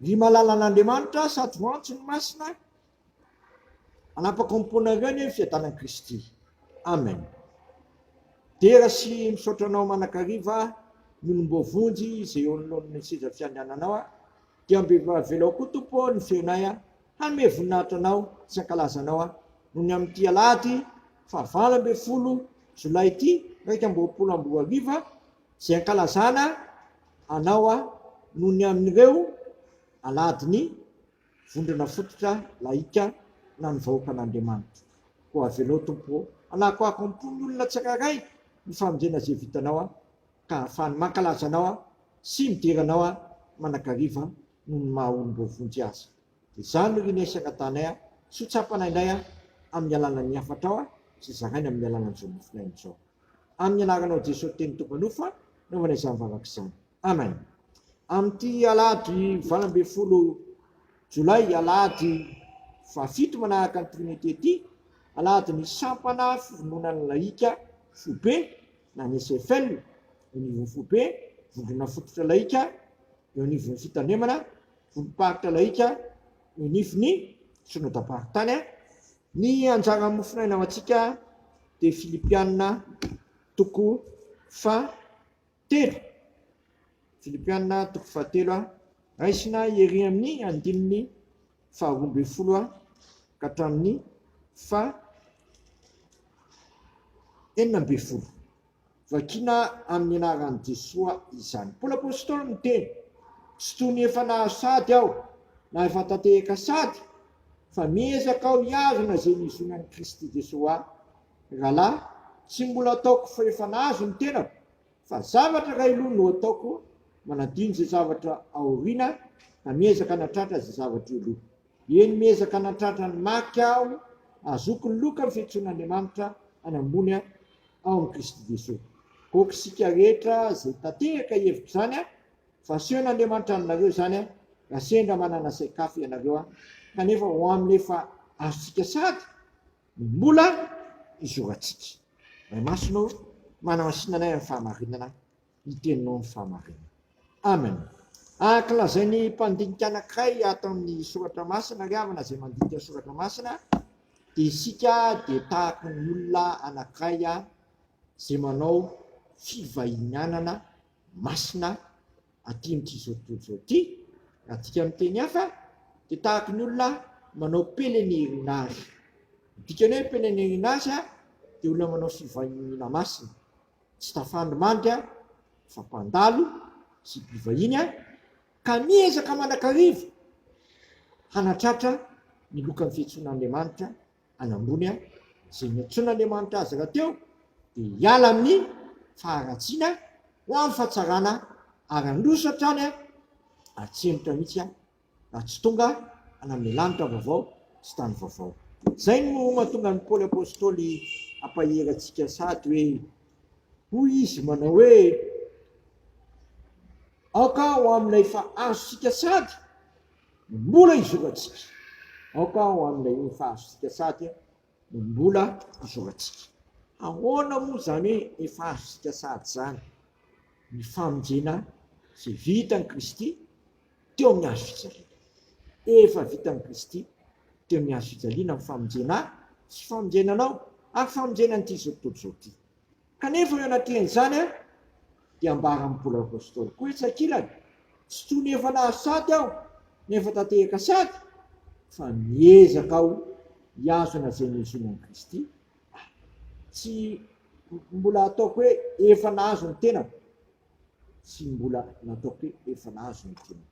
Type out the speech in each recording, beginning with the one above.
Ny malalan'Andriamanitra sady ho antso ny masina hanapaka am-pony nareo anie ny fiadanan'i Kristy. Amen. Dera sy misaotra anao manakariva ny olom-boavonjy izay eo anoloan'ny seza fiandriananao a. Dia mbe avelao koa Tompo ny fiainay a. Hanome voninahitra anao sy hankalaza anao a. Noho ny amin'ity alahady fahavalo ambin'ny folo jolay ity iraika amby roapolo amby roa arivo a, Izay ankalazana anao aho noho ny an'ireo aladin'ny vondrona fototra lahika na ny vahoakan'Andriamanitra. Koa avelao, Tompo ô, hanakoako am-pon'ny olona tsirairay ny famonjena izay vitanao aho, ka hahafahany mankalaza anao aho sy midera anao aho manakariva noho ny maha olon'ireo vonjy azy. Dia izany ry Nesy angatanay aho, sy ho tsapana indray aho amin'ny alanan'ny hafatrao aho, sy zaraina amin'ny alanan'izao mofon'aina izao. Amin'ny anaranao Jesoa Teny tompanofo aho naovana izany vavaka izany. Amen. Amin'ity alahady valo ambin'ny folo jolay, alahady fahafito manaraka ny Trinite ity, alahady ny sampana fivononan'ny lahika foibe na ny SFL eo anivon'ny foibe, vondrona fototra lahika eo anivon'ny fitandremana, vondrom-paritra lahika eo anivon'ny Synodam-paritany, Ny anjaran'ny mofonaina ho antsika dia Filipiana toko fahatelo, Filipiana toko fahatelo, raisina ery amin'ny andininy faharoa ambin'ny folo ka hatramin'ny faha enina ambin'ny folo. Vakina amin'ny anaran'i Jesoa izany. Paoly Apostoly miteny, Tsy toy ny efa nahazo sady aho, na efa tatehaka sady, fa miezaka aho hiazona izay nizonan'i Kristy Jesoa ahy. Ry rahalahy, tsy mbola ataoko fa efa nahazo ny tenako, fa zavatra iray aloha no ataoko, manadino izay zavatra aoriana, ka miezaka hanatratra izay zavatra eo aloha. Eny miezaka natratra ny marika aho azoky ny loka ny fetsoan'Andriamanitra any ambony ao amin'i Kristy Jesoa. Aoka isika rehetra izay tanteraka hevitra izany a! Fa asehon'Andriamanitra aminareo izany a! Raha sendra manana sain-kafa ianareo a! Kanefa ho amin'ny efa azontsika sady ny mbola hizorantsika. Ray Masina ô! Manamasinanay amin'ny fahamarinana. ny teninao ny fahamarinana. Amen. Araka lazain'ny mpandinika anankiray ato amin'ny soratra masina ry havana izay mandinika soratra masina dia isika dia tahaka ny olona anankiray izay manao fivahinianana masina aty amin'ity tontolo ity. Adika amin'ny teny hafa dia tahaka ny olona manao pèlerinage. Dikany hoe pèlerinage dia olona manao fivahiniana masina. tsy tafandry mandry aho fa mpandalo sy mpivahiny aho ka miezaka manakariva hanatratra ny lokan'ny fiantsoan'Andriamanitra any ambony aho, izay niantsoan'Andriamanitra azy rahateo dia hiala amin'ny faharatsiana ho amin'ny fahatsarana ary handroso hatrany aho, atsembotra mihitsy aho. raha tsy tonga hanome lanitra vaovao sy tany vaovao. Izay no mahatonga an'i Paoly Apostoly hampahery antsika sahady hoe, Hoy izy manao hoe, Aoka ho amin'ilay efa azontsika sahady no mbola izorantsika. Aoka ho amin'ilay efa azontsika sahady no mbola izorantsika. Ahoana moa izany hoe efa azontsika sahady izany? Ny famonjena izay vitan'i Kristy, teo amin'ny hazo fijaliana. Efa vitan'i Kristy teo amin'ny hazo fijaliana ny famonjena ahy sy famonjena anao ary famonjena an'ity izao tontolo izao ity. Kanefa eo anatrehan'izany dia ambaran'i Paoly Apostoly koa etsy ankilany, Tsy toy ny efa nahazo sady aho na efa tatehaka sady, fa miezaka aho hihazona izay nihozona an'i Kristy aho. Tsy mbola ataoko hoe efa nahazo ny tenako. tsy mbola nataoko hoe efa nahazo ny diany.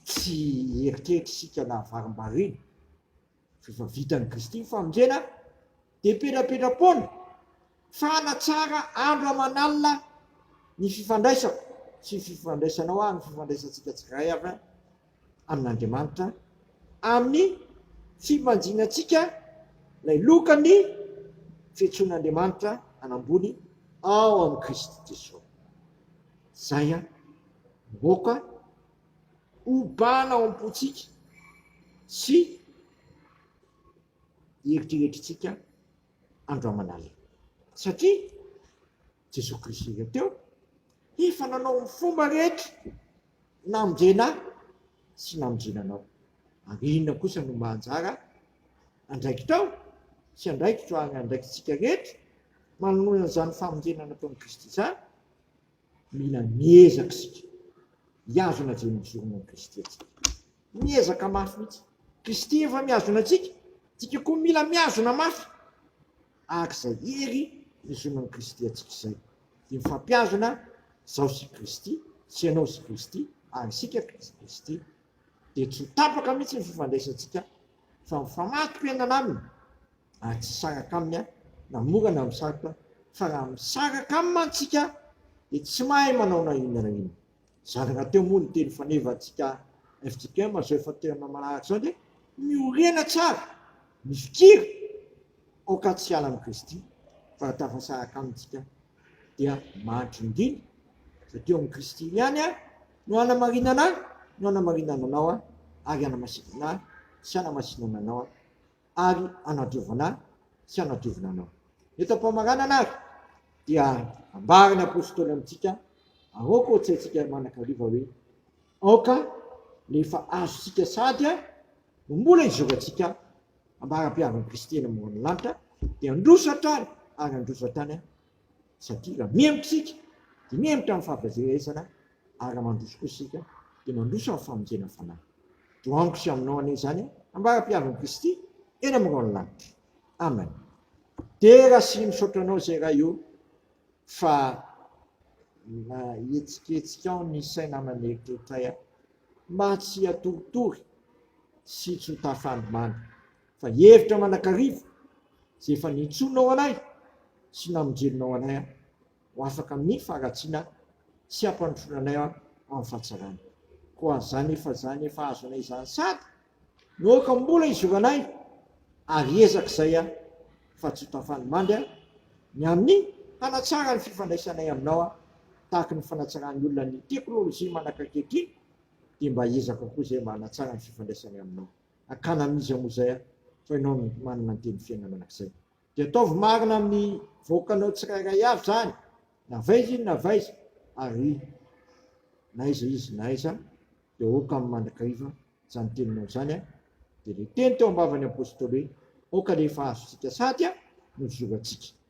Tsy hieritreritra isika na varimbariana fa efa vitan'i Kristy ny famonjena dia petrapetra-poana fa hanatsara andro aman'alina ny fifandraisako sy ny fifandraisanao ary ny fifandraisantsika tsirairay. amin'Andriamanitra amin'ny fibanjinantsika ilay lokan'ny fiantsoan'Andriamanitra an'ambony ao amin'i Kristy Jesosy. Izay an, moka obana ao am-pontsika sy eritreretintsika andro aman'alina. Satria Jesoa Kristy ireo teo, efa nanao ny fomba rehetra namonjena ahy sy namonjena anao. Ary inona kosa no mba anjara andraikitao sy andraikitro ary andraikitsika rehetra manoloana izany famonjena nataon'i Kristy izany? Mila miezaka isika hihazona izay nijoroana an'i Kristy antsika. Miezaka mafy mihitsy. Kristy efa mihazona antsika, antsika koa mila mihazona mafy. ary izay hery fizonoan'i Kristy antsika izay, dia mifampihazona izaho sy Kristy, sy ianao sy Kristy, ary isika sy Kristy. Dia tsy ho tapaka mihitsy ny fifandraisantsika, fa mifamatopenana Aminy, ary tsy hisaraka Aminy na mora na misarotra, fa raha misaraka Aminy mantsika, dia tsy mahay manao na inona na inona. Zàrina teo moa ny teny fanevantsika FJKM izao efa tena maharitra izao dia miorena tsara ny fikira aoka tsy hiala amin'i Kristy fa raha tafasaraka aminy isika dia mahantra indrindra satria eo amin'i Kristy ihany no hanamarinana ahy no hanamarinana anao ary hanamasinana ahy sy hanamasinana anao ary hanadiovana ahy sy hanadiovina anao. Eto am-pamaranana ary dia ambaran'ny apostoly amintsika, aoka ho tsaintsika manan-kariva hoe aoka ny efa azontsika sady no mbola izorantsika ambaram-piavin'i Kristy eny ambonin'ny lanitra dia handroso hatrany ary handroso hatrany Satria raha mihemotra isika dia mihemotra amin'ny fahaverezana ary raha mandroso kosa isika dia mandroso amin'ny famonjena fanahy. Toa amiko sy aminao anie izany ambara-piavin'i Kristy eny amin'ny rahon'ny lanitra. Amen. Dera sy misaotra anao izay Ray o fa mahetsiketsikao ny saina aman'eritreritray aho mba tsy hatoritory sy tsy ho tafandrimandry. fa hevitra manakariva izay efa nintsoinao anay sy namonjenao anay aho ho afaka amin'ny faharatsiana sy hampandrosoana anay aho amin'ny fahatsarana. Koa izany efa izany efa azo anay izany sady no aoka mbola izoranay ary hiezaka izay aho fa tsy ho tafan'ny mandry aho ny amin'ny hanatsara ny fifandraisanay aminao aho tahaka ny fanatsaran'ny olona ny teknolojia manaka ankehitriny dia mba hiezaka koa izay mba hanatsara ny fifandraisanay aminao. Akana amin'izy aho moa izay aho, fa ianao no manana ny teny fiainana mandrakizay. Dia ataovy marina amin'ny vahoakanao tsirairay avy izany, na avy aiza izy na avy aiza, ary na aiza izy na aiza, dia aoka amin'ny mandrakariva izany teninao izany, dia ilay teny teo am-bavan'ny apostoly hoe, Aoka rehefa azontsika sady no zorantsika.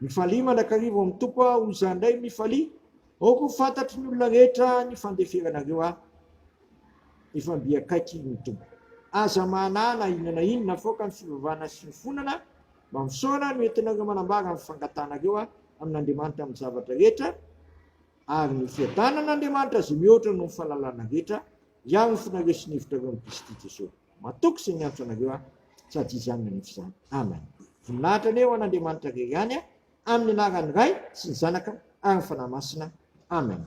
Mifalia mandrakariva ao amin'ny Tompo aho, hoy izany indray, mifalia aoka ho fantatry ny olona rehetra ny fandeferanareo ahy. Efa mby akaiky ny Tompo. Aza mahanaa na inona na inona afaoka ny fivavahana sy ny fonana mba misaona no entinareo manambara ny fangatanareo ahy amin'Andriamanitra amin'ny zavatra rehetra, ary ny fiadanan'Andriamanitra izay mihoatra noho ny fahalalana rehetra hiaro ny fonareo sy ny hevitrareo amin'i Kristy Jesosy. Matoky sy miantso anareo aho, sady Izy ihany manefa izany. Amen. Voninahitra anie ho an'Andriamanitra irery ihany, amin'ny anaran'ny Ray sy ny Zanaka ary ny Fanahy Masina. Amen.